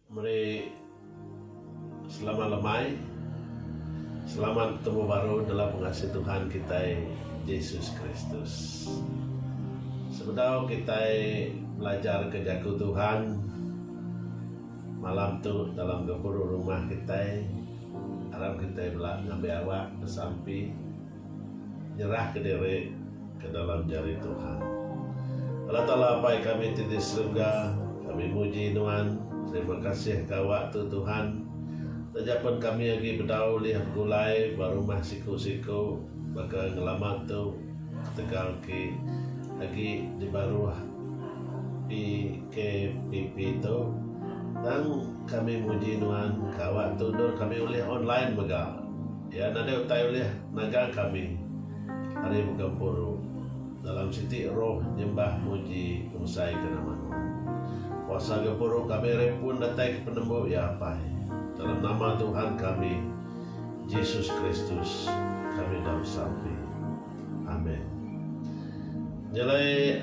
Meri selamat lemai. Selamat betemu baru dalam pengasih Tuhan kitai Jesus Kristus. Sebedau kitai belajarka Jaku Tuhan malam tu dalam gempuru rumah kitai, aram kitai bela ngambi awak besampi. Nyerahka diri ke dalam jari Tuhan. Allah Taala Apai kami ti di serega, kami muji Nuan, terima kasih ka Awak tu Tuhan. Taja pen kami agi bedau ulih begulai ba rumah siku-siku baka ngelama tu ketegal ki agi di baruh PKPP tu, tang kami muji Nuan ka Awak tu endur kami ulih online mega. Iya nadai utai ulih nagang kami ari muka empuru dalam siti roh nyembah muji ngebesaika nama Nuan. Kuasa gempuru kami ari pun datai ke penembu iya apai. Dalam nama Tuhan kami, Jesus Kristus, kami udah besampi. Amen. Nyelai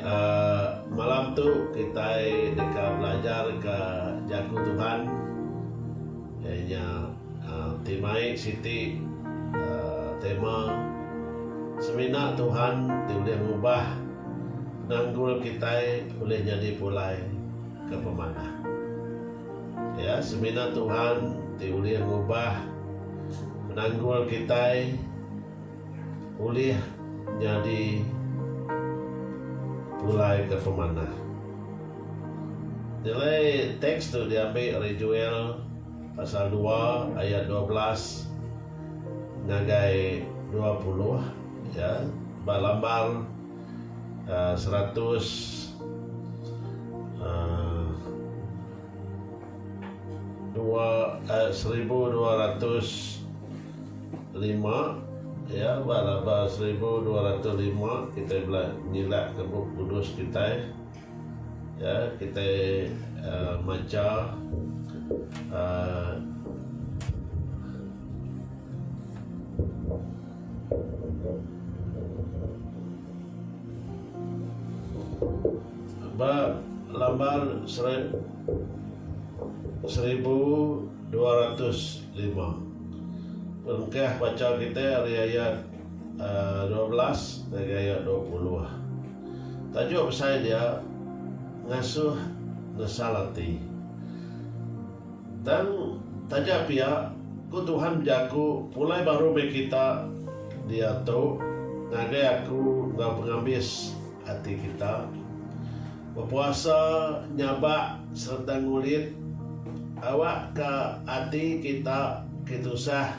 malam tu kitai deka belajarka Jaku Tuhan. Iya nya ti mai siti tema semina Tuhan ti ulih ngubah penanggul kitai ulih nyadi pulai ke pemanah. Iya semina Tuhan ti ulih ngubah penanggul kitai. ulih nyadi pulai ke pemanah. Nilai teks tu diambi ari Joel pasal dua ayat dua belas ngagai dua puluh ya ba lambar seratus dua seribu dua ratus. lima iya ba laba seribu dua ratus lima kitai bela nyilakka Bup Kudus kitai iya kitai um macha um ba lambar seri seribu dua ratus lima. Perengkah pachau kitai ari ayat dua belas ngagai ayat dua puluh. Tajuk besai dia Ngasuh Nesal Ati. Tang taja pia, ku Tuhan bejaku pulai baru meh kita diatu ngagai aku enggau pengambis. Ati kita. Bepuasa nyabak sereta ngulit awakka ati kita ke tusah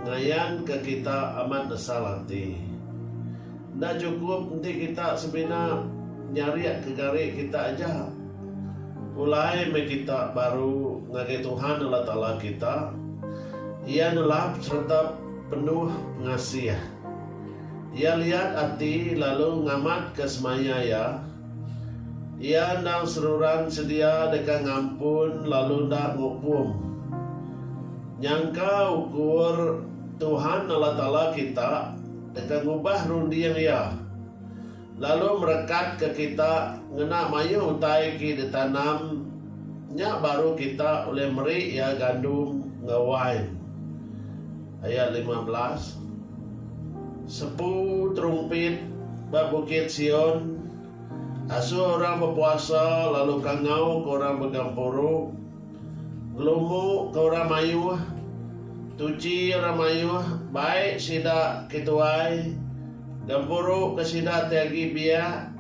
ngayanka kita amat nesal ati. Enda chukup enti kita semina nyarik ke gari kita aja, pulai meh kita baru ngagai Tuhan Allah Taala kita. Iya nelap sereta penuh pengasih. Iya liat ati lalu ngamatka semaya iya. Iya endang seruran sedia deka ngampun lalu enda ngukum. Nyangka ukur Tuhan Allah Taala kita deka ngubah runding iya. lalu merekatka kita ngena mayuh utai ke ditanam nya baru kita ulih meri iya gandum enggau wain. Ayat lima belas Sepu terumpit ba bukit Sion, asuh orang bepuasa lalu kangauka orang begempuru. Gelumbu ke orang mayuh, tuchi orang mayuh bai sida ke tuai, gempuru ke sida ti agi biak,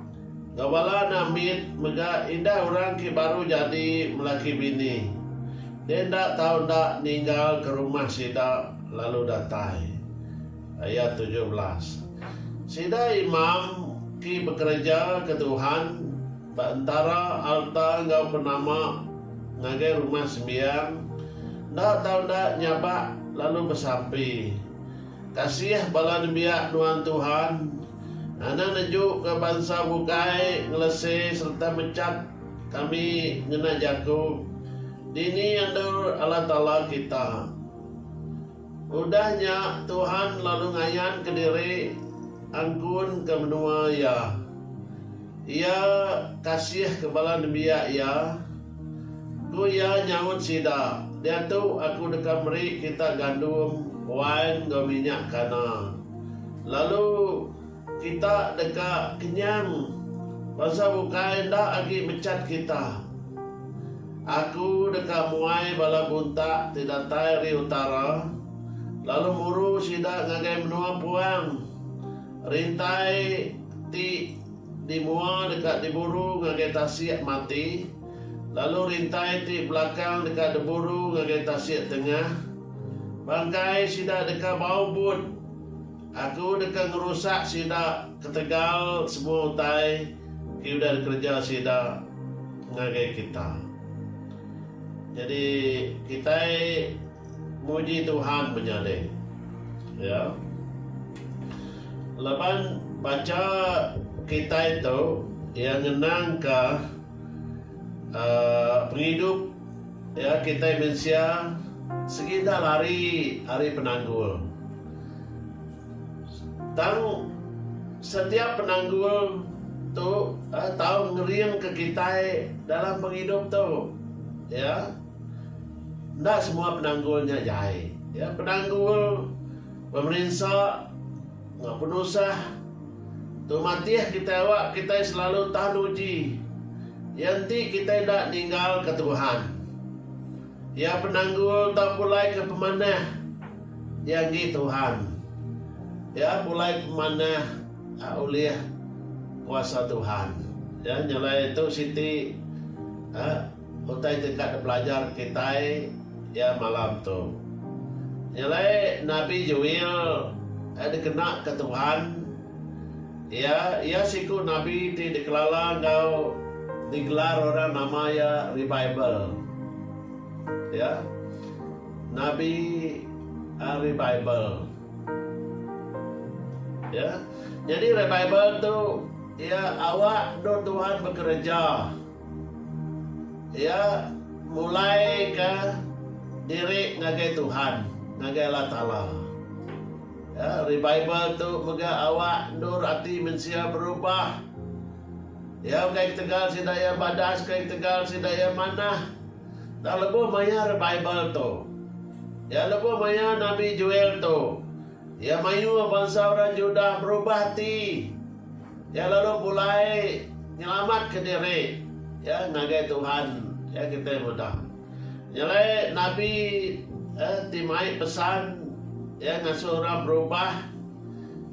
enggau bala anak mit mega indah orang ke baru jadi melaki bini, deh enda tau enda ninggal ke rumah sida lalu datai. Ayat tujuh belas. Sida imam ke bekereja ke Tuhan. Ba entara alta enggau penama ngagai Rumah Sembiang, enda tau enda nyabak lalu besampi. Kasih bala nembiak nuan Tuhan ngena nejuka bansa bukai ngelese sereta mechap kami ngena jaku, Dini endur Allah Taala kita? Udah nya, Tuhan lalu ngayanka diri angkunka menua Iya. Iya kasihka bala nembiak Iya. Ku Iya nyaut sida, Diatu Aku deka meri kita gandum, wain enggau minyak kana. Lalu. Kita deka kenyang bangsa bukai enda agi mechat kita. Aku deka muai bala buntak ti datai ari utara, lalu muru sida ngagai menua puang. Rintai ti di mua deka diburu ngagai tasik mati, lalu rintai ti belakang deka diburu ngagai tasik tengah. Bangkai sida deka bau but, Aku deka ngerusak sida ketegal semua utai ke udah dikereja sida ngagai kita. Nyadi kitai muji Tuhan menyading iya. Laban bacha kitai tu iya ngenangka uhh pengidup iya kitai mensia sigi enda lari ari penanggul. Tang setiap penanggul tu tau ngeringka kitai dalam pengidup tu. Ya. Enda semua penanggul nya jai. Ya, penanggul pemerinsa enggau penusah tu matih kitai awak kitai selalu tahan uji. Iya enti kitai enda ninggalka Tuhan. Iya penanggul tau pulai ke pemanah Iya enggi Tuhan. Iya pulai pemanah a ulih kuasa Tuhan. Ya nyelai tu siti a utai ti ka dipelajar kitai ya malam tu. Nyelai nabi Joel a dikena ke Tuhan. Iya, iya siku nabi ti dikelala enggau digelar orang nama iya Rebibel. Ya. Nabi Rebibel. Ya. Nyadi Rebibel tu iya awak endur Tuhan bekereja. Iya mulaika diri ngagai Tuhan, ngagai Allah Taala. Revival tu mega awak endur ati mensia berubah. Iya ukai ketegal sida iya badas, ukai ketegal sida iya manah. Tang lebuh maya revival tu, iya lebuh maya Nabi Joel tu, iya mayuh bansa orang Judah berubah ati. Iya lalu pulai nyelamatka diri iya ngagai Tuhan. Iya kitai meda. Nyelai nabi ti mai pesan iya ngasuh orang berubah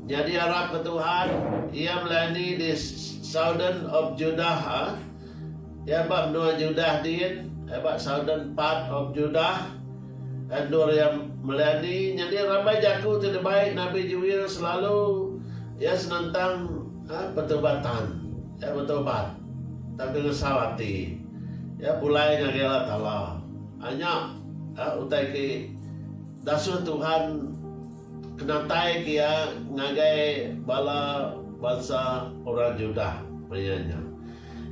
nyadi arap ke Tuhan. Iya melayani di Southern of Judah. Iya ba menua Judah din, ba Southern part of Judah. Endur iya melayani nyadi rambai jaku ti dibai Nabi Jewel selalu iya senentang petubatan. Iya betobat, tang ke ngesau ati. Iya pulai ngagai Allah Taala. Anya utai ke dasuh Tuhan ke nataika iya ngagai bala bansa orang Judah maya nya.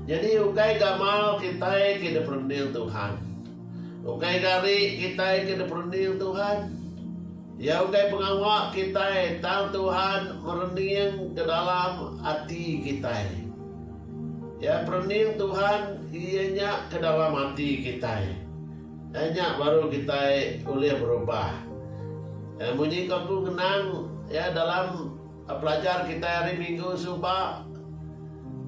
Nyadi ukai gamal kitai ke diperening Tuhan. Ukai gari kitai ke diperening Tuhan. Iya utai pengawa kitai tang Tuhan merening ke dalam ati kitai. Iya perening Tuhan iya nya ke dalam ati kitai. Iya nya baru kitai ulih berubah. Iya munyi ko aku ngenang iya dalam Pelajar kitai hari minggu suba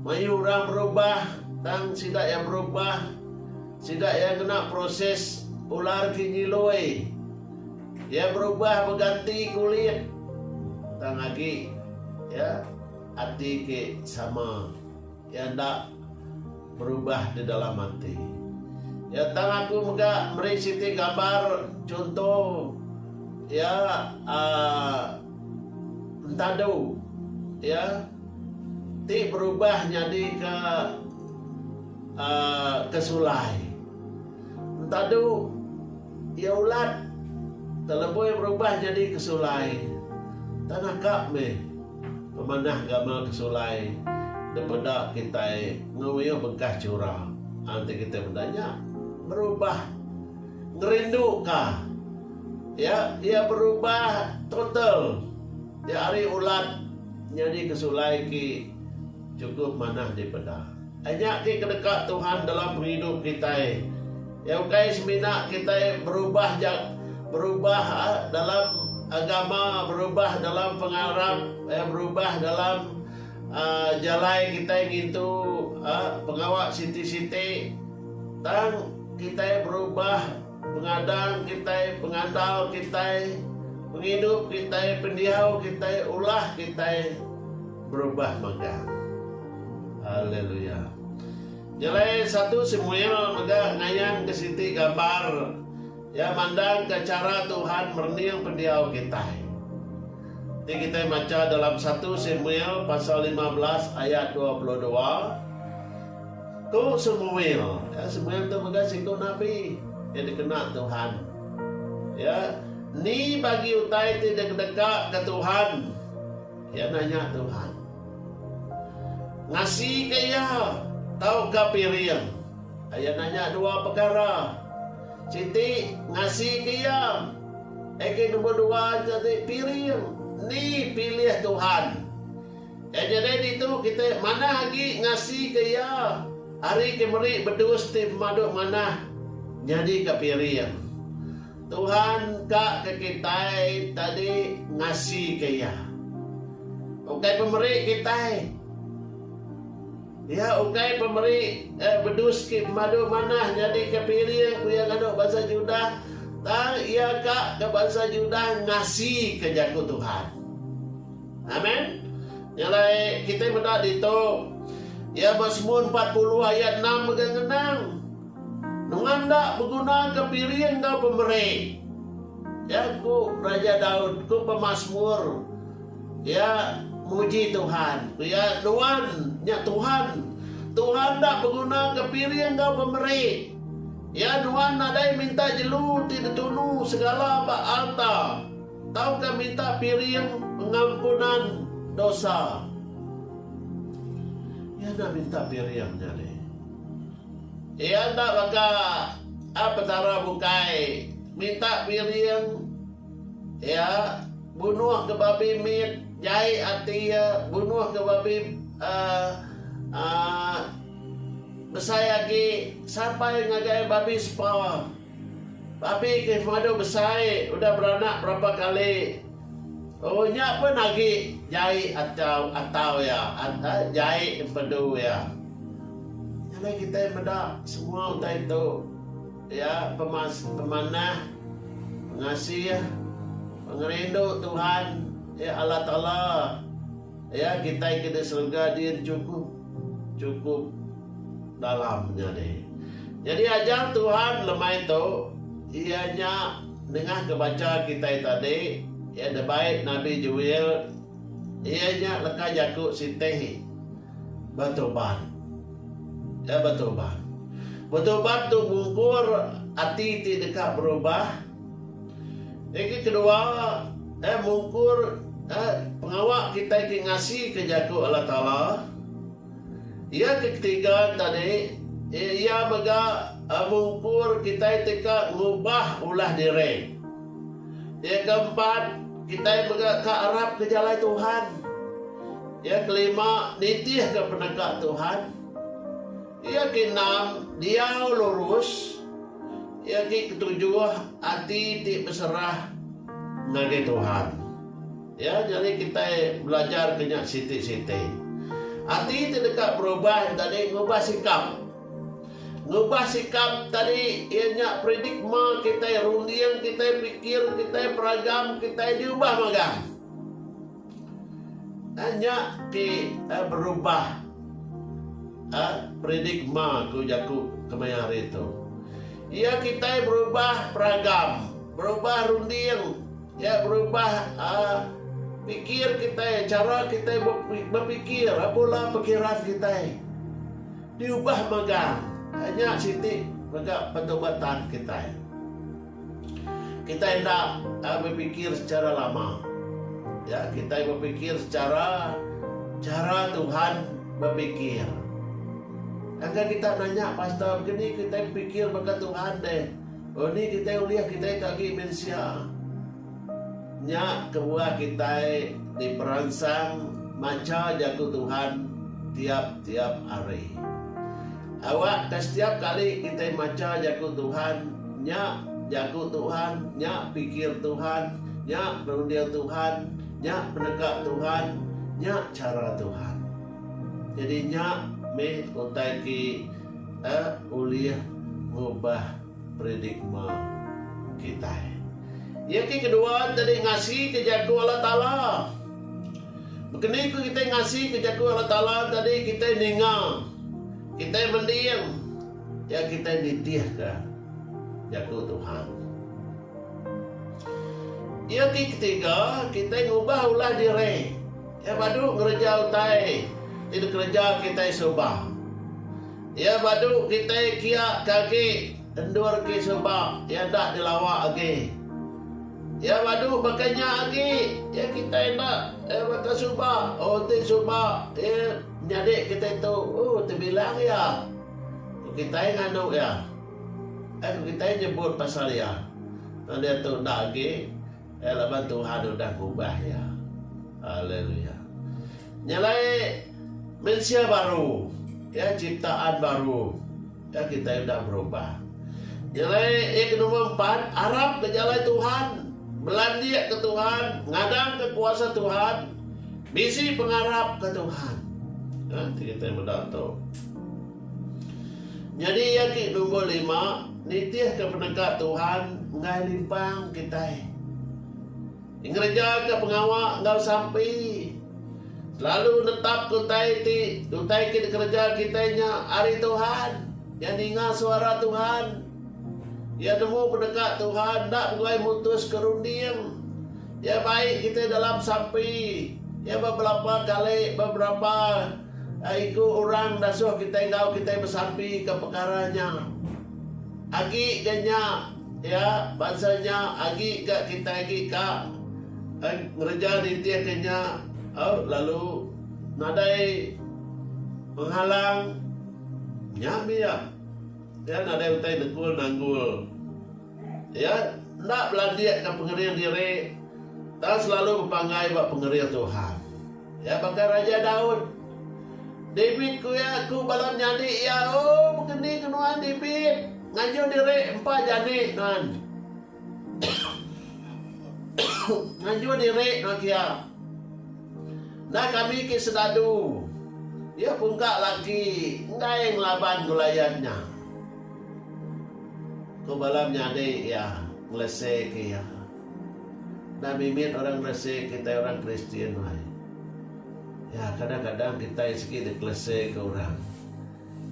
mayuh orang berubah tang sida iya berubah sida iya ngena proses ular ke nyiloi iya berubah beganti kulit tang agi iya ati ke sama. Iya enda berubah di dalam ati iya tang aku mega meri siti gambar chunto iya uhh entadu iya ti berubah nyadi ke uhh ke sulai. Entadu iya ulat telebui berubah nyadi ke sulai. Tanah ka meh pemanah gamal ke sulai dipeda kitai ngemuyuh bengkah chura. Enti kitai meda nya berubah ngerindu ka iya, iya berubah total. Nya ari ulat nyadi ke sulai ki chukup manah dipeda. Nya ke kedeka Tuhan dalam pengidup kitai. Iya ukai semina kitai berubah ja berubah dalam agama, berubah dalam pengarap, berubah dalam jalai kitai ngintu pengawa siti-siti tang kitai berubah Pengadang kitai, pengandal kitai, pengidup kitai, pendiau kitai, ulah kitai berubah mega. Haleluya. Nyelai satu Samuel mega ngayanka siti gambar iya mandangka chara Tuhan merening pendiau kitai. Ti kitai macha dalam satu Samuel pasal lima belas ayat dua puluh dua. Ku Semuel, ka Semuel tu mega siku nabi ke dikena Tuhan. Iya ni bagi utai ti dikdeka ke Tuhan, iya nanya Tuhan. Ngasi ke iya tauka piring, iya nanya dua pekara. Siti ngasi ke iya, aka nombor dua enti piring ni pilih Tuhan. Ke nyadi ditu kite manah agi ngasika Iya ari ke meri bedus ti pemadu manah nyadika piring. Tuhan ka ke kitai tadi ngasika Iya. Ukai pemeri kitai. Iya ukai pemeri bedus ke pemadu manah nyadika piring, ku iya nganu bansa Judah, tang Iya ka ke bansa Judah ngasika jaku Tuhan. Amen. Nya alai kitai meda ditu iya ba Semua empat puluh ayat enam mega ngenang nunga enda begunaka piring enggau pemeri. Ya ku Raja Daud, ku pemasmur, iya muji Tuhan. Ku iya, Nuan, nya Tuhan, Tuhan enda begunaka piring enggau pemeri. Iya nuan nadai minta jelu ti ditunu segala ba alta. Tauka minta piring pengampunan dosa. Iya enda minta piring nya deh. Iya enda baka a Petara bukai minta piring iya bunuh ke babi mit jai ati iya bunuh ke babi aaa besai agi sampai ngagai babi sepa. Tapi ke pemadu besai udah beranak berapa kali oh nya pun agi jai atau atau iya jai empedu iya. Nya alai kitai meda semua utai tu iya pemas pemanah pengasih pengerindu Tuhan iya Allah Taala. Iya kitai ke di serega din chukup, chukup dalam nya deh. Nyadi ajar Tuhan lemai tu iya nya nengah ke bacha kitai tadi iya de bait nabi Joel iya nya leka jaku sitih betuban. Iya betuban. Betuban tu mungkur ati ti deka berubah. Agi kedua, eh mungkur eh pengawa kitai ti ngasika Jaku Allah Taala. Iya ke ketiga enta di, eh iya mega eh mungkur kitai deka ngubah ulah diri. Iya ke empat, kitai mega ka arapka jalai Tuhan. Iya ke lima, nitihka peneka Tuhan. Iya ti enam, diau lurus, iya ti ketujuh, ati ti beserah ngagai Tuhan. Ya, nyadi kitai belajarka nya siti-siti. Ati ti deka berubah nya tadi ngubah sikap. Ngubah sikap tadi iya nya predigma kitai, runding kitai, pikir kitai, peragam kitai diubah magang. Nya ti berubah paradigma ku jaku kemaya hari tu. Iya kitai berubah peragam, berubah runding, iya berubah pikir kitai, chara kitai bepikir apo lah pikiran kitai diubah magang. Nya siti mega pertubatan kitai. Kitai enda bepikir secara lama. Ya, kitai bepikir secara cara Tuhan bepikir. Angka kita nanya pastor begini kitai bepikir baka Tuhan deh. Oh ni kitai ulih kitai ke agi mensia. Nya kebuah kitai diperansang macha Jaku Tuhan tiap-tiap hari. Awak ka setiap kali kitai macha Jaku Tuhan, nya Jaku Tuhan, nya pikir Tuhan, nya runding Tuhan, nya peneka Tuhan, nya chara Tuhan. Nyadi nya mih utai ti ulih ngubah. Paradigma kitai iya ke kedua nyadi ngasika Jaku Allah Taala. Baka ni ku kitai ngasika Jaku Allah Taala nyadi kitai ninga, kitai mending, iya kitai nitihka Jaku Tuhan. Iya ke ketiga, kitai ngubah ulah diri iya badu ngereja utai ti dikereja kitai suba. Iya badu kitai kia ke agi endur ke sebab iya enda dilawa agi. Iya badu baka nya agi iya kitai enda iya baka suba oh enti suba iya nyadi kitai tu oh tebilang iya ku kitai nganu iya. Ai ku kitai nyebut pasal iya tang dia tu enda agi. Iya laban Tuhan udah ngubah iya. Haleluya. Nya alai mensia baru, ya ciptaan baru. Ya kita udah berubah. Nya alai ya ke nombor empat, arap ke jalai Tuhan, belandik ke Tuhan, ngadang ke kuasa Tuhan, bisi pengarap ke Tuhan. Ha, kita benda tu. Nyadi iya ti numbur lima, nitihka peneka Tuhan enggai limpang kitai. Ngerejaka pengawa enggau sampi selalu netapka utai ti utai ke dikereja kitai nya ari Tuhan. Iya ninga suara Tuhan, iya nemu peneka Tuhan, enda beguai mutuska runding. Iya bai kitai dalam sampi, iya ba belapa kali, ba berapa. Iku orang dasuh kitai enggau kitai besampi ke pekara nya. Agi ga nya, ya, bansa nya agi ga kitai agi ka ngereja nitih ke nya lalu nadai penghalang. Nya mia. Ya, nadai utai negul nanggul. Ya, enda belandik ke pengering diri tang selalu bepanggai ba pengering Tuhan. Iya baka Raja Daud. David ku iya, Ku bala menyadi iya, O bekeni ke nuan, David? Ngaju diri empa jani nuan. Ngaju diri nuan kia. Enda kami ke sedadu. Iya pungka laki enggai ngelaban Goliat nya. Ku bala menyadi iya, ngeleseka iya. Enda mimit orang ngelesek kitai orang Kristian nuai. Ya, kadang-kadang kitai sigi dikelesek orang.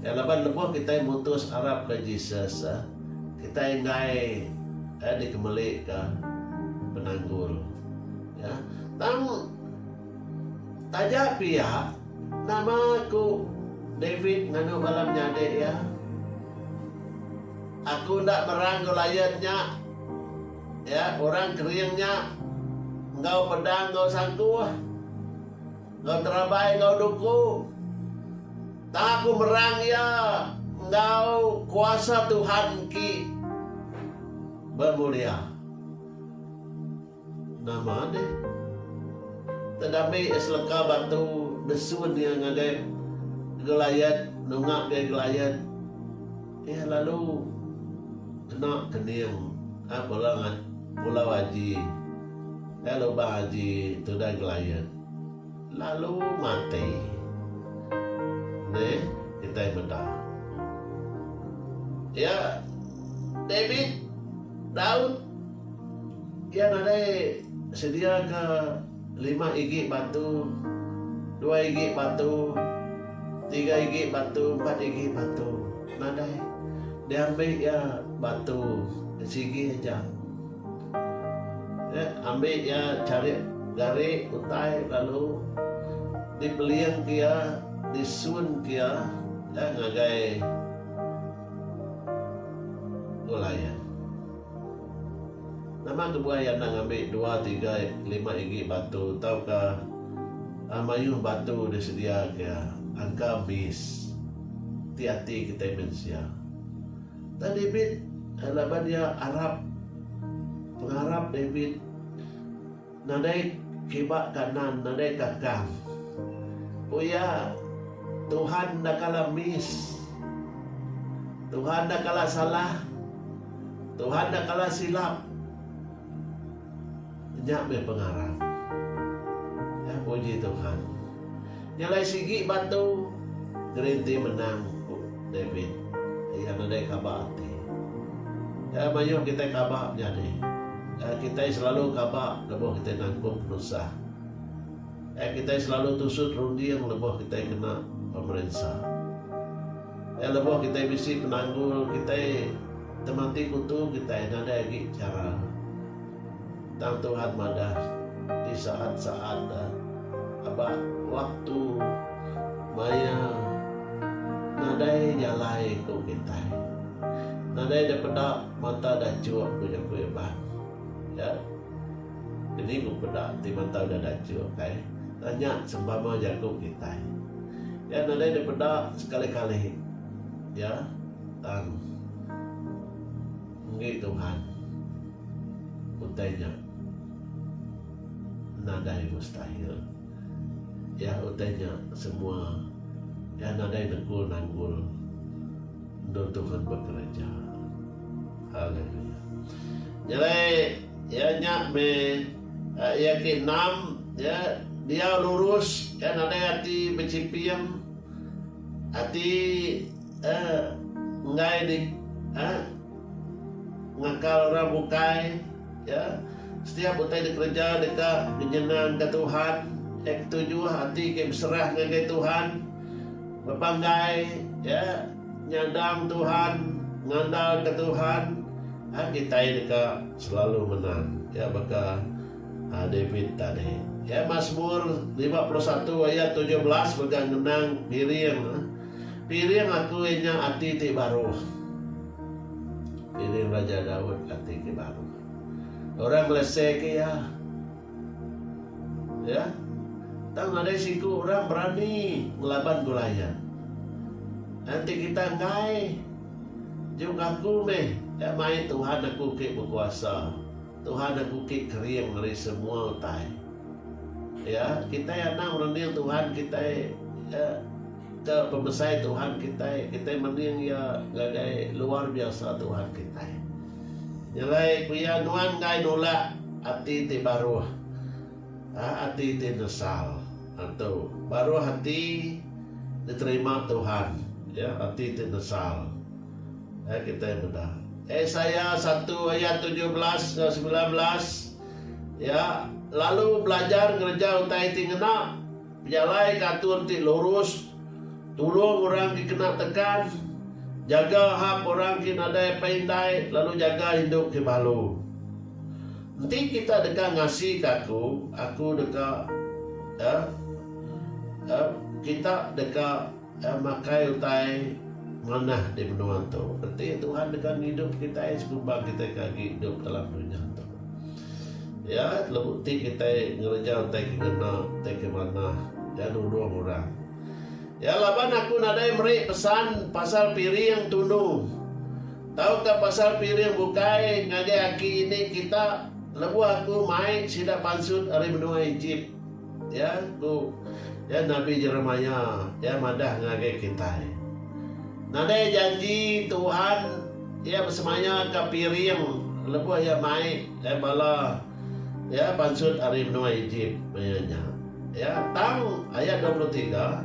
Ya, laban lebuh kitai mutus arapka Jesus, kitai enggai dikemelika penanggul. Ya, tang taja pia, nama ku David nganu bala menyadi iya? Aku enda meran enggau lion nya. Iya, orang kering nya enggau pedang enggau sangkuh, enggau terabai enggau duku. Tang aku merang iya enggau kuasa Tuhan engki bemulia. Nama deh. Tedambi seleka batu desun iya ngagai Goliat nunga gai Goliat. Iya lalu kena kening a bela ngat pulau aji gai lubang aji tudah Goliat lalu mati. Neh kitai meda. Iya David, Daud. Iya nadai sediaka lima igi batu, dua igi batu, tiga igi batu, empat igi batu. Nadai. Diambi iya batu sigi aja. Nya ambi iya charik gari utai lalu dipelingka iya, disunka iya ngagai gulai iya. Nama kebuai anang ambi dua tigai lima igi batu tauka mayuh batu disedia ke angka miss ti ati kitai mensia enda David laban iya arap pengarap David. Nadai kiba kanan nadai ka kan. Ku iya, Tuhan enda kala miss. Tuhan enda kala salah. Tuhan enda kala silap. Nya meh pengarap. Puji Tuhan. Nya alai sigi batu gerinti menang, ku David. Iya nadai kaba ati. Nya mayuh kitai kaba menyadi. Nya kitai selalu kaba lebuh kitai nangkup penusah. Nya kitai selalu tusut runding lebuh kitai kena pemerinsa. Nya lebuh kitai bisi penanggul kitai temati kutu kitai nadai agi chara. Tang Tuhan madah, Di saat-saat da aba waktu maya nadai jalai ku kitai, nadai da peda mata dachuk ku jaku Iban. Ya, kini ku peda ti mata udah dachuk ai, tanya sempama jaku kitai. Ya, nadai da peda sekali-kali. Ya, tang. Enggi Tuhan, utai nya nadai mustahil. Iya utai nya semua Iya nadai negul nanggul endur Tuhan bekereja. Haleluya. Nyelai iya nya meh iya ke enam ya diau lurus iya nadai ati bechipim ati enggai di ngakal orang bukai setiap utai dikereja deka nyenangka Tuhan ketuju ati ke beserah ngagai Tuhan bebanggai nyadang Tuhan ngandalka Tuhan kitai deka selalu menang iya baka David tadi Masmur lima puluh satu ayat tujuh belas mega ngenang ngiring. Piring aku iya nya ati ti baru. Piring Raja Daud ati ke baru. Orang ngelesek iya. Ya. Tang nadai siku orang berani ngelaban Goliat. Enti kita enggai juk aku meh ya mai Tuhan aku ke bekuasa. Tuhan aku ke kering ari semua utai. Ya, kitai anang merening Tuhan kitai ya, Te pemesai Tuhan kitai, kitai mending iya ngagai luar biasa Tuhan kitai. Nyelai ku iya nuan enggai nulak ati ti baruh, ah ati ti nesal. Antu, baruh ati diterima Tuhan, iya ati ti nesal. Ai kitai meda Esaya satu ayat tujuh belas enggau semilan belas, Iya lalu belajar ngereja utai ti ngena. Pejalaika atur ti lurus, tulung orang ke kena tekan, jaga hak orang ke nadai pai indai lalu jaga indu ke balu. Enti kita deka ngasika aku, aku deka, eh, eh, kita deka. Tang makai utai manah di menua tu. Reti Tuhan deka ngidup kitai sekubang kitai ke agi idup dalam dunya tu. Iya lebuh ti kitai ngereja utai ke ngena, utai ke manah, iya nulung orang. Iya laban aku nadai meri pesan pasal piring tunu tauka pasal piring bukai ngagai aki ini kita lebuh aku mai sida pansut ari menua Ejip. Ya, ku iya nabi Jeremia, iya madah ngagai kitai, Nadai janji Tuhan iya besemaya ka piring lebuh iya mai bala iya pansut ari menua Ejip maya nya. Ya, tang, ayat dua puluh tiga,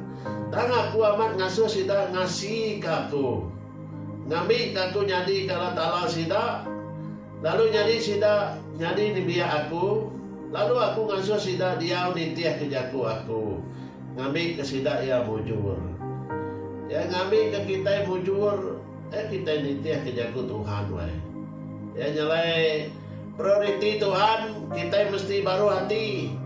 tang Aku amat ngasuh sida ngasika Aku, ngambika Aku nyadika Allah Taala sida, Lalu nyadi sida nyadi nembiak Aku, lalu Aku ngasuh sida diau nitihka jaku Aku, ngambika sida iya mujur. Iya ngambika kitai mujur, iya kitai nitihka jaku Tuhan wai. Iya nyalai prioriti Tuhan, kitai mesti baruh ati,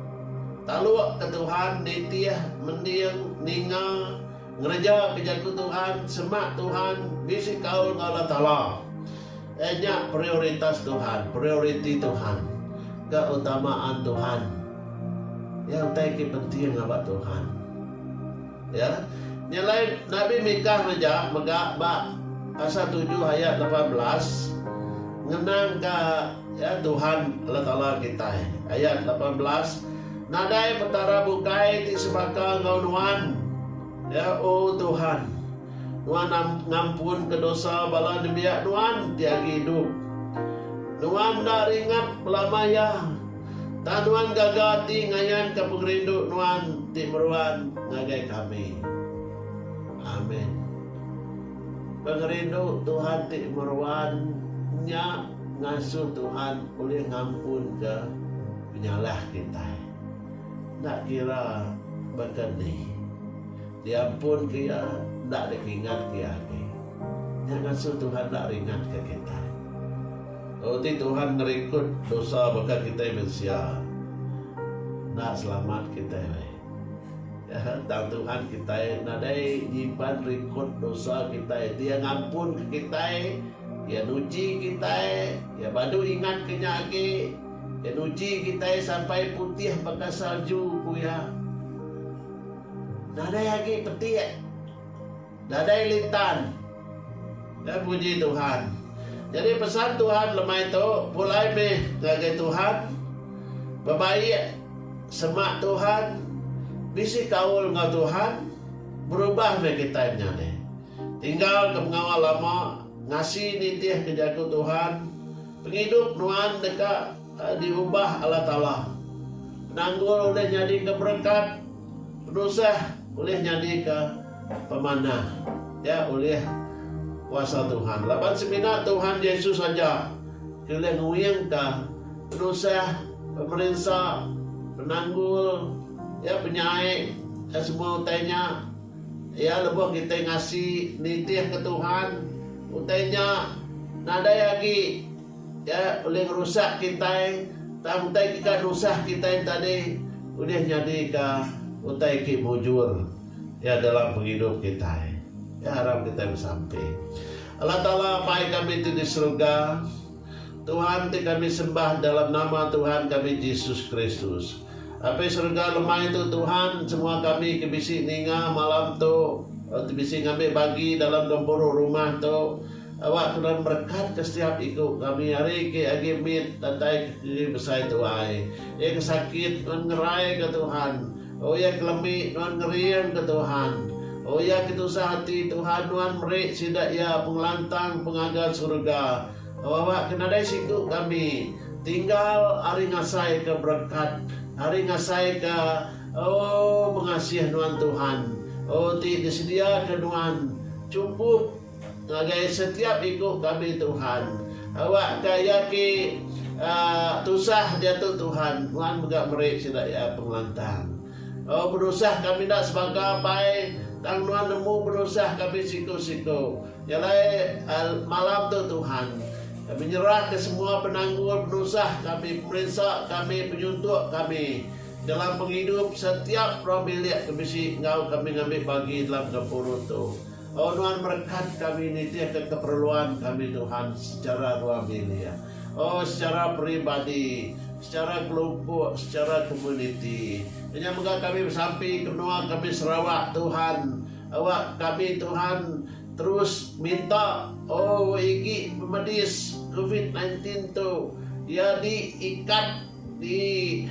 talukka Tuhan, nitih, mending, ninga, ngerejaka jaku Tuhan, semak Tuhan, bisi kaul enggau Allah Taala. Eh nya prioritas Tuhan, prioriti Tuhan, keutamaan Tuhan. Ya utai ke penting ngaba Tuhan. Ya. Nyelai Nabi Mikah meja mega ba pasal 7 ayat 18 ngenangka ya Tuhan Allah Taala kitai. Ayat 18 Nadai petara bukai ti sebaka enggau nuan. Ya oh Tuhan. Nuan am ngampunka dosa bala nembiak Nuan ti agi idup. Nuan enda ringat belama iya, tang Nuan gaga ati ngayanka pengerindu Nuan ti meruan ngagai kami. Amin. Pengerindu Tuhan ti meruan nya ngasuh Tuhan ulih ngampunka penyalah kitai, enda kira baka ni. Ti ampun ke iya enda deka ingat ke iya agi. Nya ngasu Tuhan enda ringat ke kitai. Lalu ti Tuhan ngerikut dosa baka kitai mensia enda selamat kitai alai. Nya tang Tuhan kitai nadai nyimpan rikut dosa kitai. Ti iya ngampun ke kitai, iya nuji kitai, iya badu ingat ke nya agi. Iya nuji kitai sampai putih baka salju, ku iya. Nadai agi petik. Nadai lintan. Nya puji Tuhan. Nyadi pesan Tuhan lemai tu pulai meh ngagai Tuhan, bebaik, semak Tuhan, bisi kaul enggau Tuhan, berubah meh kitai nya deh. Tinggalka pengawa lama, ngasi nitihka jaku Tuhan, pengidup nuan deka. Diubah Allah Taala. Penanggul ulih nyadika berekat, penusah ulih nyadika pemanah. Nya ulih kuasa Tuhan. Laban semina Tuhan Jesus aja ti ulih nguingka penusah, pemerinsa, penanggul, iya penyai iya semua utai nya. Iya lebuh kitai ngasi nitihka Tuhan, utai nya nadai agi. Iya ulih ngerusak kitai tang utai kika nusah kitai tadi ulih nyadika utai ti mujur iya dalam pengidup kitai. Iya aram kitai besampi. Allah Taala Apai kami ti di serega, Tuhan ti kami sembah dalam nama Tuhan kami Jesus Kristus. Apai serega lemai tu Tuhan semua kami ke bisi ninga malam tu, ti bisi ngambi bagi dalam gempuru rumah tu, Awak kenan berekat ke setiap iku kami ari ke agi mit datai ke keri besai tuai. Iya ke sakit nuan ngerai ke Tuhan. Oh iya ke lemi nuan ngering ke Tuhan. Oh iya ke tusah ati Tuhan nuan meri sida iya pengelantang pengaga surga. Awak ke nadai siku kami tinggal ari ngasai ke berekat ari ngasai ke oh pengasih nuan Tuhan. Oh ti disedia ke nuan cukup. Ngagai setiap iku kami Tuhan. Awak ka iya ki tusah diatu Tuhan nuan mega meri sida iya pengelantang. Oh penusah kami enda sebaga pai tang nuan nemu penusah kami siku siku. Jalai malam tu Tuhan. Kami nyerah ka semua penanggul penusah kami pemerinsa kami penyuntuk kami dalam pengidup setiap rong bilik ke bisi enggau kami ngambi bagi dalam gempuru tu. Oh nuan berekat kami nitihka keperluan kami Tuhan sechara rua bilik. Oh sechara peribadi, sechara kelumpuk, sechara komuniti. Nya mega kami besampi ke menua kami Sarawak Tuhan. Awak kami Tuhan terus minta oh igi pemedis covid nineteen tu dia di ikat. Di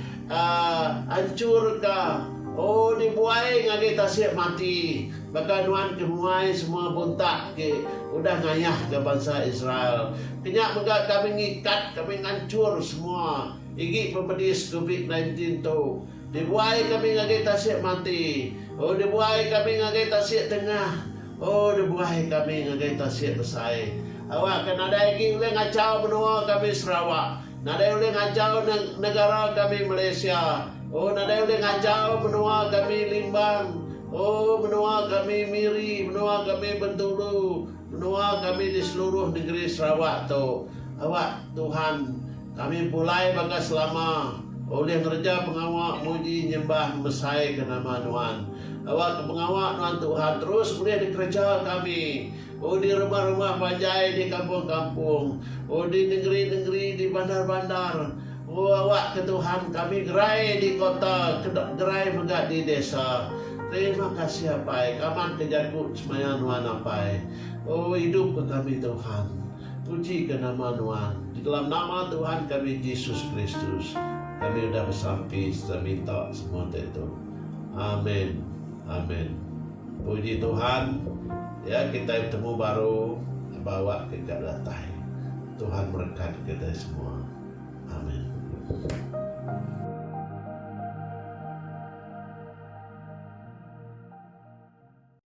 anchur ka oh di buai ngagai tasik mati baka nuan ke muai semua buntak ti udah ngayah ka bansa Israel. Kenya mega kami ngikat kami nganchur semua igi pemedis covid nineteen tu. Di buai kami ngagai tasik mati oh di buai kami ngagai tasik tengah oh di buai kami ngagai tasik besai. Awak ka nadai agi ulih ngachau menua kami Sarawak. Nadai ulih ngachau negara kami Malaysia oh nadai ulih ngachau menua kami Limbang oh menua kami Miri menua kami Bentulu menua kami di seluruh negeri Sarawak tu awak Tuhan kami pulai baka selama ulih ngereja pengawa muji nyembah ngemesai ke nama nuan awak ke pengawa nuan Tuhan terus ulih dikereja kami Ku di rumah-rumah panjai di kampung-kampung, ku di nengeri-nengeri di bandar-bandar, ku awakka Tuhan kami gerai di kota ke gerai mega di desa. Terima kasih Apai kamatka jaku semaya Nuan Apai. Oh idupka kami Tuhan. Pujika nama Nuan. Di dalam nama Tuhan kami Jesus Kristus kami udah besampi sereta minta semua ditu. Amen. Amen. Puji Tuhan, ya kitai betemu baru bawa kega datai. Tuhan merekat kitai semua. Amin.